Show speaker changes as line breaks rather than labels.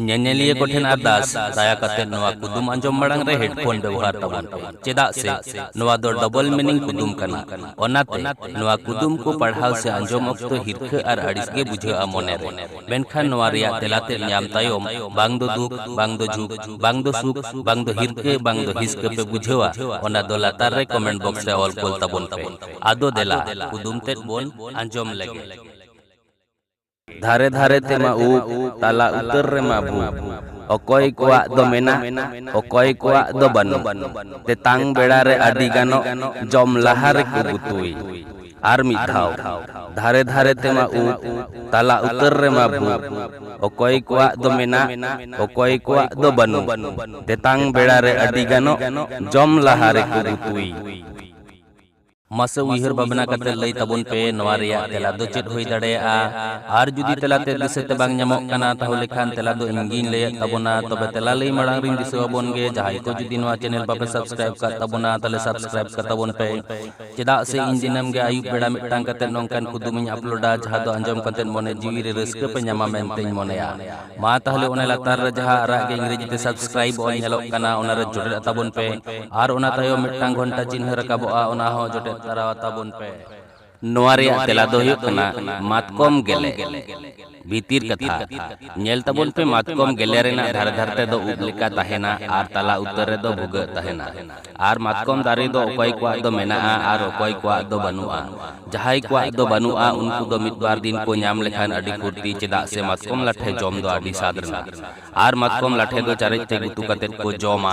ᱧᱮᱧᱮᱞᱤᱭᱟᱹ ᱠᱚᱴᱷᱮᱱ ᱟᱨᱫᱟᱥ ᱫᱟᱭᱟ ᱠᱟᱛᱮ ᱱᱚᱣᱟ ᱠᱩᱫᱩᱢ ᱟᱸᱡᱚᱢ ᱢᱟᱲᱟᱝ ᱨᱮ ᱦᱮᱰᱯᱷᱳᱱ ᱵᱮᱵᱚᱦᱟᱨ ᱛᱟᱵᱚᱱ ᱯᱮ ᱪᱮᱫᱟᱜ ᱥᱮ ᱱᱚᱣᱟ ᱫᱚ ᱰᱚᱵᱚᱞ ᱢᱤᱱᱤᱝ ᱠᱩᱫᱩᱢ ᱠᱟᱱᱟ ᱚᱱᱟᱛᱮ ᱱᱚᱣᱟ ᱠᱩᱫᱩᱢ ᱠᱚ ᱯᱟᱲᱦᱟᱣ ᱥᱮ ᱟᱸᱡᱚᱢ ᱚᱠᱛᱚ ᱦᱤᱨᱠᱷᱟᱹ ᱟᱨ ᱟᱹᱲᱤᱥ ᱜᱮ ᱵᱩᱡᱷᱟᱹᱜᱼᱟ ᱢᱚᱱᱮ ᱨᱮ ᱢᱮᱱᱠᱷᱟᱱ ᱱᱚᱣᱟ ᱨᱮᱭᱟᱜ ᱛᱮᱞᱟ ᱛᱮᱫ ᱧᱟᱢ ᱛᱟᱭᱚᱢ ᱵᱟᱝ ᱫᱚ ᱫᱩᱠ ᱵᱟᱝ ᱫᱚ ᱡᱷᱩᱠ ᱵᱟᱝ ᱫᱚ ᱥᱩᱠ ᱵᱟᱝ ᱫᱚ ᱦᱤᱨᱠᱷᱟᱹ ᱵᱟᱝ ᱫᱚ ᱦᱤᱥᱠᱟᱹ ᱯᱮ ᱵᱩᱡᱷᱟᱹᱣᱟ ᱚᱱᱟ ᱫᱚ ᱞᱟᱛᱟᱨ ᱨᱮ ᱠᱚᱢᱮᱱᱴ ᱵᱚᱠᱥ ᱨᱮ ᱚᱞ ᱠᱳᱞ ᱛᱟᱵᱚᱱ ᱯᱮ ᱟᱫᱚ ᱫᱮᱞᱟ ᱠᱩᱫᱩᱢ ᱛᱮᱫ ᱵᱚᱱ ᱟᱸᱡᱚᱢ ᱞᱮᱜᱮ ᱫᱷᱟᱨᱮ ᱫᱷᱟᱨᱮ ᱛᱮᱢᱟ ᱩᱵ, ᱛᱟᱞᱟ ᱩᱛᱟᱹᱨ ᱨᱮᱢᱟ ᱵᱷᱩ᱾ ᱚᱠᱚᱭ ᱠᱚᱣᱟᱜ ᱫᱚ ᱢᱮᱱᱟᱜ, ᱚᱠᱚᱭ ᱠᱚᱣᱟᱜ ᱫᱚ ᱵᱟᱹᱱᱩᱜ᱾ ᱛᱮᱛᱟᱝ ᱵᱮᱲᱟ ᱨᱮ ᱟᱹᱰᱤ ᱜᱟᱱᱚᱜ, ᱡᱚᱢ ᱞᱟᱦᱟ ᱨᱮᱠᱚ ᱜᱩᱛᱩᱭ᱾ ᱟᱨ ᱢᱤᱫ ᱫᱷᱟᱣ᱾ ᱫᱷᱟᱨᱮ ᱫᱷᱟᱨᱮ ᱛᱮᱢᱟ ᱩᱵ, ᱛᱟᱞᱟ ᱩᱛᱟᱹᱨ ᱨᱮᱢᱟ ᱵᱷᱩ᱾ ᱚᱠᱚᱭ ᱠᱚᱣᱟᱜ ᱫᱚ ᱢᱮᱱᱟᱜ, ᱚᱠᱚᱭ ᱠᱚᱣᱟᱜ ᱫᱚ ᱵᱟᱹᱱᱩᱜ᱾ ᱛᱮᱛᱟᱝ ᱵᱮᱲᱟ ᱨᱮ ᱟᱹᱰᱤ ᱜᱟᱱᱚᱜ, ᱡᱚᱢ ᱞᱟᱦᱟ ᱨᱮᱠᱚ ᱜᱩᱛᱩᱭ᱾ ᱢᱟᱥᱮ ᱩᱭᱦᱟᱹᱨ ᱵᱷᱟᱵᱽᱱᱟ ᱠᱟᱛᱮ ᱞᱟᱹᱭ ᱛᱟᱵᱚᱱ ᱯᱮ ᱱᱚᱣᱟ ᱨᱮᱭᱟᱜ ᱛᱮᱞᱟ ᱫᱚ ᱪᱮᱫ ᱦᱩᱭ ᱫᱟᱲᱮᱭᱟᱜᱼᱟ ᱟᱨ ᱡᱩᱫᱤ ᱛᱮᱞᱟ ᱛᱮ ᱫᱤᱥᱟᱹ ᱛᱮ ᱵᱟᱝ ᱧᱟᱢᱚᱜ ᱠᱟᱱᱟ ᱛᱟᱦᱚᱞᱮ ᱠᱷᱟᱱ ᱛᱮᱞᱟ ᱫᱚ ᱤᱧ ᱜᱤᱧ ᱞᱟᱹᱭᱮᱫ ᱛᱟᱵᱚᱱᱟ ᱛᱚᱵᱮ ᱛᱮᱞᱟ ᱞᱟᱹᱭ ᱢᱟᱲᱟᱝ ᱨᱤᱧ ᱫᱤᱥᱟᱹ ᱟᱵᱚᱱ ᱜᱮ ᱡᱟᱦᱟᱸᱭ ᱠᱚ ᱡᱩᱫᱤ ᱱᱚᱣᱟ ᱪᱮᱱᱮᱞ ᱵᱟᱯᱮ ᱥᱟᱵᱥᱠᱨᱟᱭᱤᱵ ᱠᱟᱜ ᱛᱟᱵᱚᱱᱟ ᱛᱟᱦᱚᱞᱮ ᱥᱟᱵᱥᱠᱨᱟᱭᱤᱵ ᱠᱟᱜ ᱛᱟᱵᱚᱱ ᱯᱮ ᱪᱮᱫᱟᱜ ᱥᱮ ᱤᱧ ᱫᱤᱱᱟᱹᱢ ᱜᱮ ᱟᱹᱭᱩᱵ ᱵᱮᱲᱟ ᱢᱤᱫᱴᱟᱝ ᱠᱟᱛᱮ ᱱᱚᱝᱠᱟᱱ ᱠᱩᱫᱩᱢᱤᱧ ᱟᱯᱞᱳᱰᱟ ᱡᱟᱦᱟᱸ ᱫᱚ ᱟᱸᱡᱚᱢ ᱠᱟᱛᱮ ᱢᱚᱱᱮ ᱡᱤᱣᱤ ᱨᱮ ᱨᱟᱹᱥᱠᱟᱹ ᱯᱮ ᱧᱟᱢᱟ ᱢᱮᱱᱛᱮᱧ ᱢᱚᱱᱮᱭᱟ ᱢᱟ ᱛᱟᱦᱚᱞᱮ ᱚᱱᱟ ᱞᱟᱛᱟᱨ ᱨᱮ ᱡᱟᱦᱟᱸ ᱟᱨᱟᱜ ᱜᱮ ᱤᱝᱨᱮᱡᱤ ᱛᱮ ᱥᱟᱵᱥᱠᱨᱟᱭᱤᱵ ᱚᱞ ᱧᱮᱞᱚᱜ ᱠᱟᱱᱟ ᱚᱱᱟ ᱨᱮ ᱡᱚᱴᱮᱫ ᱟᱛᱟᱵᱚᱱ ᱯᱮ ᱟᱨ ᱚᱱᱟ ᱛᱟᱭᱚᱢ ᱢᱤᱫᱴᱟᱝ ᱜᱷᱚᱱᱴᱟ ᱪᱤᱱᱦᱟᱹ ᱨᱟᱠᱟᱵᱚᱜᱼᱟ ᱚᱱᱟ ᱦᱚᱸ ᱡᱚᱴᱮᱫ ᱛᱟᱨᱟ ᱟᱛᱟᱵᱚᱱ ᱯᱮ ᱱᱚᱣᱟ ᱨᱮᱭᱟᱜ ᱛᱮᱞᱟ ᱫᱚ ᱦᱩᱭᱩᱜ ᱠᱟᱱᱟ ᱢᱟᱛᱠᱚᱢ ᱜᱮᱞᱮ ᱵᱷᱤᱛᱤᱨ ᱠᱟᱛᱷᱟ ᱧᱮᱞ ᱛᱟᱵᱚᱱ ᱯᱮ ᱢᱟᱛᱠᱚᱢ ᱜᱮᱞᱮ ᱨᱮᱱᱟᱜ ᱫᱷᱟᱨᱮ ᱫᱷᱟᱨᱮ ᱛᱮᱫᱚ ᱩᱵ ᱞᱮᱠᱟ ᱛᱟᱦᱮᱱᱟ ᱟᱨ ᱛᱟᱞᱟ ᱩᱛᱟᱹᱨ ᱨᱮᱫᱚ ᱵᱷᱩᱜᱟᱹᱜ ᱛᱟᱦᱮᱱᱟ ᱟᱨ ᱢᱟᱛᱠᱚᱢ ᱫᱟᱨᱮ ᱫᱚ ᱚᱠᱚᱭ ᱠᱚᱣᱟᱜ ᱫᱚ ᱢᱮᱱᱟᱜᱼᱟ ᱟᱨ ᱚᱠᱚᱭ ᱠᱚᱣᱟᱜ ᱫᱚ ᱵᱟᱹᱱᱩᱜᱼᱟ ᱡᱟᱦᱟᱸᱭ ᱠᱚᱣᱟᱜ ᱫᱚ ᱵᱟᱹᱱᱩᱜᱼᱟ ᱩᱱᱠᱩ ᱫᱚ ᱢᱤᱫ ᱵᱟᱨ ᱫᱤᱱ ᱠᱚ ᱧᱟᱢ ᱞᱮᱠᱷᱟᱱ ᱟᱹᱰᱤ ᱯᱷᱩᱨᱛᱤ ᱪᱮᱫᱟᱜ ᱥᱮ ᱢᱟᱛᱠᱚᱢ ᱞᱟᱴᱷᱮ ᱡᱚᱢ ᱫᱚ ᱟᱹᱰᱤ ᱥᱟᱫ ᱨᱮᱱᱟᱜ ᱟᱨ ᱢᱟᱛᱠᱚᱢ ᱞᱟᱴᱷᱮ ᱫᱚ ᱪᱟᱨᱮᱡ ᱛᱮ ᱜᱩᱛᱩ ᱠᱟᱛᱮ ᱠᱚ ᱡᱚᱢᱟ